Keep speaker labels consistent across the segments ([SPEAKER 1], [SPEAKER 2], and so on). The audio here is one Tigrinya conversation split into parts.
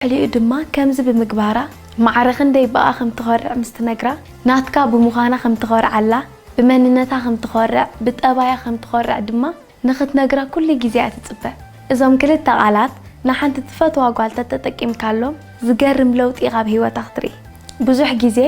[SPEAKER 1] ድሕሪኡ ድማ ከምዚ ብምግባራ ማዕረ ክንደይ ብኣ ከም ትኾርዕ ምስ ትነግራ፣ ናትካ ብምዃና ከም ትኾርዓላ፣ ብመንነታ ከም ትኾርዕ፣ ብጠባያ ከም ትኾርዕ ድማ ንኽትነግራ ኩሉ ግዜ እያ ትጽበ። እዞም ክልተ ቃላት ንሓንቲ ትፈትዋ ጓል ተተጠቂምካሎም ዝገርም ለውጢ ኢኻ ኣብ ህይወታ ክትርኢ። ብዙሕ ግዜ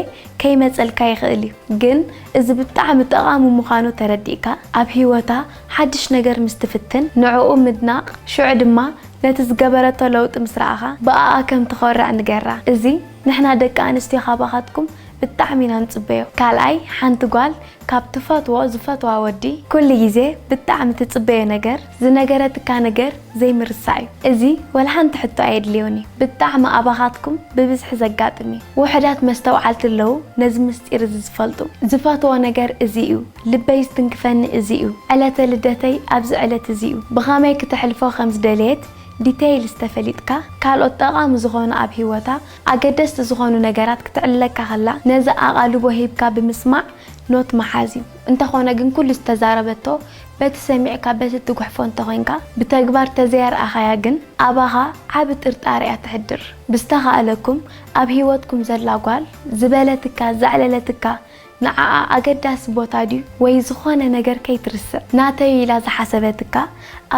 [SPEAKER 1] ከይመጸልካ ይኽእል እዩ ግን እዚ ብጣዕሚ ጠቓሚ ምዃኑ ተረዲእካ ኣብ ሂወታ ሓድሽ ነገር ምስ ትፍትን ንዕኡ ምድናቕ ሽዑ ድማ ነቲ ዝገበረቶ ለውጢ ምስ ረኣኻ ብኣኣ ከም ትኾርዕ ንገራ እዚ ንሕና ደቂ ኣንስትዮ ካባኻትኩም ብጣዕሚ ኢና ንጽበዮ ካልኣይ ሓንቲ ጓል ካብ ትፈትዎ ዝፈትዋ ወዲ ኩሉ ግዜ ብጣዕሚ ትጽበዮ ነገር ዝነገረትካ ነገር ዘይምርሳዕ እዩ እዚ ወላ ሓንቲ ሕቶ ኣየድልዮን እዩ ብጣዕሚ ኣባኻትኩም ብብዝሒ ዘጋጥም እዩ ውሑዳት መስተውዓልቲ ኣለዉ ነዚ ምስጢር እዚ ዝፈልጡ ዝፈትዎ ነገር እዚ እዩ ልበይ ዝትንክፈኒ እዚ እዩ ዕለተ ልደተይ ኣብዚ ዕለት እዚ እዩ ብኸመይ ክተሕልፎ ከም ዝደለየት ዲተይልስ ተፈሊጥካ ካልኦት ጠቓሚ ዝኾኑ ኣብ ሂወታ ኣገደስቲ ዝኾኑ ነገራት ክትዕልለካ ከላ ነዚ ኣቓልቦ ሂብካ ብምስማዕ ኖት ምሓዝ እዩ። እንተኾነ ግን ኩሉ ዝተዛረበቶ በቲ ሰሚዕካ በቲ እትጉሕፎ እንተኾይንካ ብተግባር ተዘይኣርኣኻያ ግን ኣባኻ ዓቢ ጥርጣረ እያ ተሕድር። ብዝተኻእለኩም ኣብ ሂወትኩም ዘላ ጓል ዝበለትካ ዘዕለለትካ ንዓኣ ኣገዳሲ ቦታ ድዩ ወይ ዝኾነ ነገር ከይትርስዕ ናተይ ኢላ ዝሓሰበትካ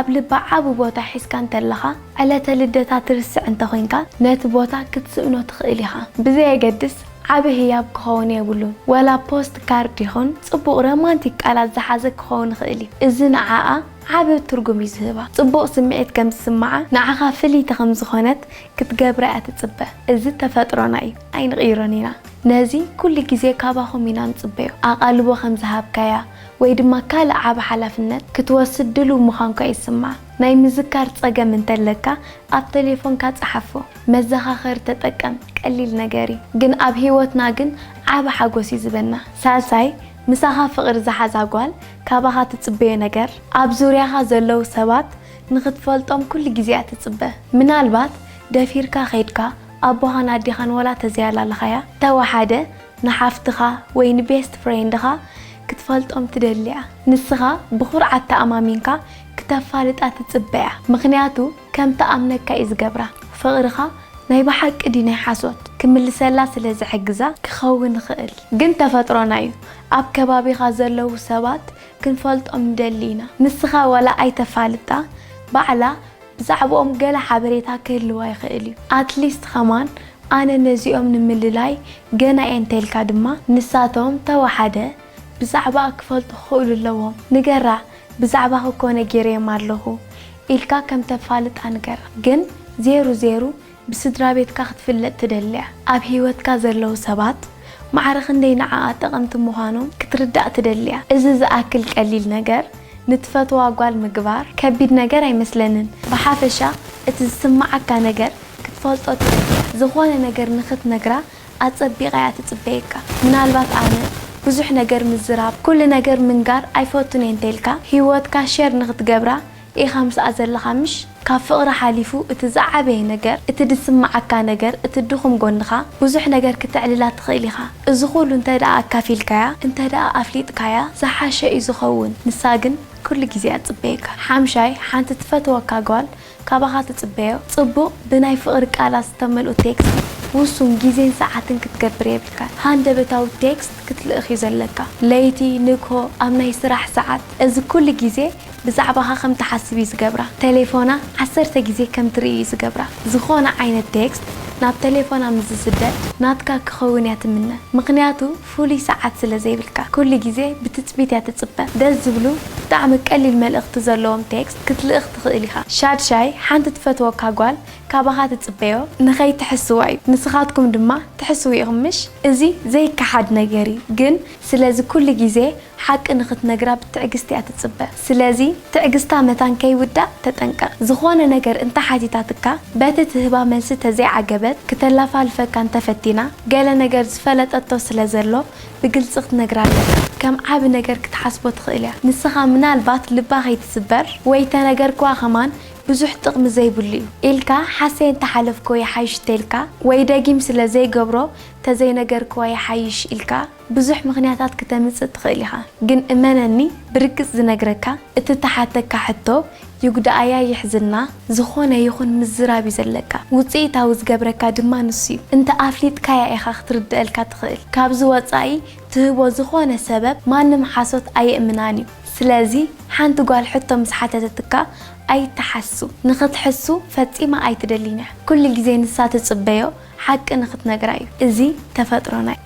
[SPEAKER 1] ኣብ ልባ ዓቢ ቦታ ሒዝካ እንተለኻ ዕለተ ልደታ ትርስዕ እንተኾይንካ ነቲ ቦታ ክትስእኖ ትኽእል ኢኻ ብዘየገድስ ዓቢ ህያብ ክኸውን የብሉን ወላ ፖስት ካርድ ይኹን ጽቡቕ ረማንቲክ ቃላት ዝሓዘ ክኸውን ይኽእል እዩ እዚ ንዓኣ ዓቢ ትርጉም እዩ ዝህባ ጽቡቕ ስምዒት ከም ዝስምዓ ንዓኻ ፍልይቲ ከም ዝኾነት ክትገብራ እያ ትጽበ እዚ ተፈጥሮና እዩ ኣይንቕይሮን ኢና። ነዚ ኩሉ ግዜ ካባኹም ኢና ንጽበዮ። ኣቓልቦ ከም ዝሃብካያ ወይ ድማ ካልእ ዓቢ ሓላፍነት ክትወስድ ድሉው ምዃንኳ ይስማዕ። ናይ ምዝካር ጸገም እንተ ኣለካ ኣብ ተሌፎንካ ጸሓፎ። መዘኻኸሪ ተጠቀም፣ ቀሊል ነገር እዩ፣ ግን ኣብ ህይወትና ግን ዓቢ ሓጎስ እዩ ዝህበና። ሳልሳይ፣ ምሳኻ ፍቕሪ ዝሓዛ ጓል ካባኻ ትጽበዮ ነገር፣ ኣብ ዙርያኻ ዘለዉ ሰባት ንኽትፈልጦም ኩሉ ግዜ እያ ትጽበ። ምናልባት ደፊርካ ኬድካ ኣቦኻን ኣዴኻን ወላ ተዘያላልኻያ ተወሓደ ንሓፍትኻ ወይ ንቤስት ፍሬንድኻ ክትፈልጦም ትደሊ'ያ። ንስኻ ብኹርዓት ተኣማሚንካ ክተፋልጣ ትጽበ'ያ ምኽንያቱ ከም ትኣምነካ'ዩ ዝገብራ። ፍቕርኻ ናይ ብሓቂ ድዩ ናይ ሓሶት ክምልሰላ ስለ ዝሕግዛ ክኸውን ይኽእል። ግን ተፈጥሮና'ዩ ኣብ ከባቢኻ ዘለዉ ሰባት ክንፈልጦም ንደሊ ኢና። ንስኻ ወላ ኣይተፋልጣ ባዕላ ብዛዕብኦም ገለ ሓበሬታ ክህልዋ ይኽእል እዩ፣ ኣትሊስት ኸማን ኣነ ነዚኦም ንምልላይ ገና እየ እንተኢልካ ድማ ንሳቶም ተወሓደ ብዛዕባኣ ክፈልጡ ክኽእሉ ኣለዎም፣ ንገራ ብዛዕባኺ ኮነ ገይረዮም ኣለኹ ኢልካ ከም ተፋልጣ ንገራ ግን ዜሩ ዜሩ ብስድራቤትካ ክትፍለጥ ትደሊያ? ኣብ ህይወትካ ዘለዉ ሰባት ማዕረ ክንደይ ንዓኣ ጠቐምቲ ምዃኖም ክትርዳእ ትደሊያ? እዚ ዝኣክል ቀሊል ነገር ንትፈትዋ ጓል ምግባር ከቢድ ነገር ኣይመስለንን። ብሓፈሻ እቲ ዝስምዓካ ነገር ክትፈልጦ ትደሊያ። ዝኾነ ነገር ንኽትነግራ ኣጸቢቓ እያ ትጽበየካ። ምናልባት ኣነ ብዙሕ ነገር ምዝራብ፣ ኩሉ ነገር ምንጋር ኣይፈቱን እየ እንተኢልካ፣ ህይወትካ ሸር ንኽትገብራ ኢኻ ምስኣ ዘለኻ ምሽ? ካብ ፍቕሪ ሓሊፉ እቲ ዝዓበየ ነገር እቲ ዝስምዓካ ነገር እቲ ድኹም ጎንኻ ብዙሕ ነገር ክተዕልላ ትኽእል ኢኻ እዚ ኩሉ እንተድኣ ኣካፊልካያ እንተድኣ ኣፍሊጥካያ ዝሓሸ እዩ ዝኸውን ንሳ ግን ኩሉ ግዜ እያ ትጽበየካ ሓምሻይ ሓንቲ ትፈትወካ ጓል ካባኻ ትጽበዮ ጽቡቕ ብናይ ፍቕሪ ቃላት ዝተመልኡ ቴክስት ውሱን ግዜን ሰዓትን ክትገብር የብልካን ሃንደበታዊ ቴክስት ክትልእኽ እዩ ዘለካ ለይቲ ንግሆ ኣብ ናይ ስራሕ ሰዓት እዚ ኩሉ ግዜ ብዛዕባኻ ከም ትሓስብ እዩ ዝገብራ። ተሌፎና ዓሰርተ ግዜ ከም ትርኢ እዩ ዝገብራ። ዝኾነ ዓይነት ቴክስት ናብ ተሌፎና ምስ ዝስደድ ናትካ ክኸውን እያ ትምነ። ምኽንያቱ ፍሉይ ሰዓት ስለ ዘይብልካ። ኩሉ ግዜ ብትጽቢት እያ ትጽበ። ደስ ዝብሉ ብጣዕሚ ቀሊል መልእኽቲ ዘለዎም ቴክስት ክትልእኽ ትኽእል ኢኻ። ሻድሻይ፣ ሓንቲ ትፈትወካ ጓል ካባኻ ትጽበዮ ንኸይትሕስዋ እዩ። ንስኻትኩም ድማ ትሕስዉ ኢኹም ምሽ? እዚ ዘይከሓድ ነገር እዩ። ግን ስለዚ ኩሉ ግዜ ሓቂ ንኽትነግራ ብትዕግስቲ እያ ትጽበ። ስለዚ ትዕግስታ መታን ከይውዳእ ተጠንቀቕ። ዝኾነ ነገር እንተ ሓቲታትካ፣ በቲ ትህባ መልሲ ተዘይዓገበት፣ ክተላፋልፈካ እንተ ፈቲና፣ ገለ ነገር ዝፈለጠቶ ስለ ዘሎ ብግልጺ ክትነግራ ኣለካ። ከም ዓቢ ነገር ክትሓስቦ ትኽእል እያ። ንስኻ ምናልባት ልባ ከይትስበር ወይ እተ ነገርክዋ ከማን ብዙሕ ጥቕሚ ዘይብሉ እዩ ኢልካ ሓሰየ እንተ ሓለፍክዎ ይሓይሽ እተኢልካ ወይ ደጊም ስለ ዘይገብሮ ተዘይነገርክዋ ይሓይሽ ኢልካ ብዙሕ ምኽንያታት ክተምጽእ ትኽእል ኢኻ ግን እመነኒ ብርግጽ ዝነግረካ እቲ ትሓተካ ሕቶ ይጉዳኣያ ይሕዝና ዝኾነ ይኹን ምዝራብ እዩ ዘለካ ውጽኢታዊ ዝገብረካ ድማ ንሱ እዩ እንተ ኣፍሊጥካያ ኢኻ ክትርደኣልካ ትኽእል ካብዚ ወጻኢ ትህቦ ዝኾነ ሰበብ ማንም ሓሶት ኣየእምናን እዩ ስለዚ ሓንቲ ጓል ሕቶ ምስ ሓተተትካ ኣይትሓሱ ንኽትሕሱ ፈጺማ ኣይትደሊን እያ ኩሉ ግዜ ንሳ ትጽበዮ ሓቂ ንኽትነግራ እዩ እዚ ተፈጥሮ ናይ።